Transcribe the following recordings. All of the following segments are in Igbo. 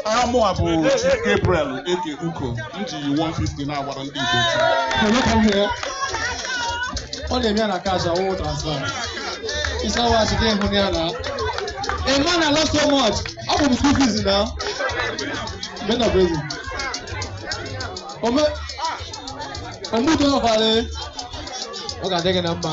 aha m bụ Gabriel Eke Uko m ji 150 na-agbara ndị Igbo ọ na-eme ya na cash awụ transfer ịsa wach gị hụ ya na ịma na lọ so much ọ bụ m school fees na men of reason ome omudo ọbara ọ ga-adị gị na mma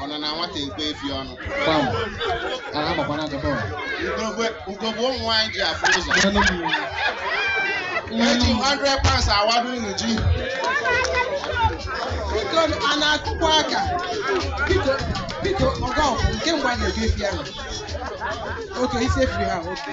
ọ nọ na nwata ekwe efi ọnụ Pam. A na-amakwa na akụkọ a. ugogbe ugogbe ụmụ nwaanyị ji afụ ụzọ mma nụ, mma nụ. Eji m 100 pounds awado unu ji Okon a na-akụkwa aka. Biko, biko, ọga ọkụ nke mgbe a na-eji efi ahụ. Oke, isi efiri ha, oke.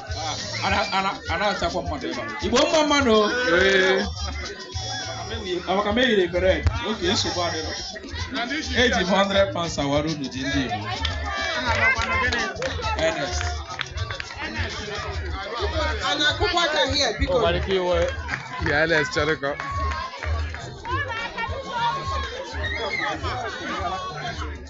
a na-achọkwa mmadụ ebe a Igbo mma mma nụ maka m eyiri bere oke nsogbu adịrọ eji m 100 pounds awara unu ji ndị Igbo Ernest Ya Alex chọrọ ka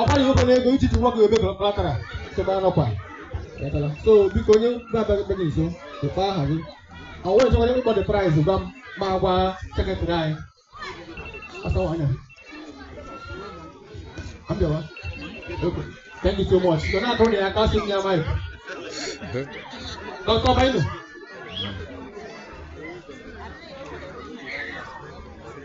ọkwa na ụgwọ n'ego iji nwa gị ebe collateral sebe anọkwa so biko onye na-abịaghị gị nso dịkwa aha gị ọ nwere nchekwa ịkpọ the price gwa m ma gwa secretary anyị asawa anya abịawa thank you so much so na-akụrụ nụ ya aka sị m ya mic dọkịta bainu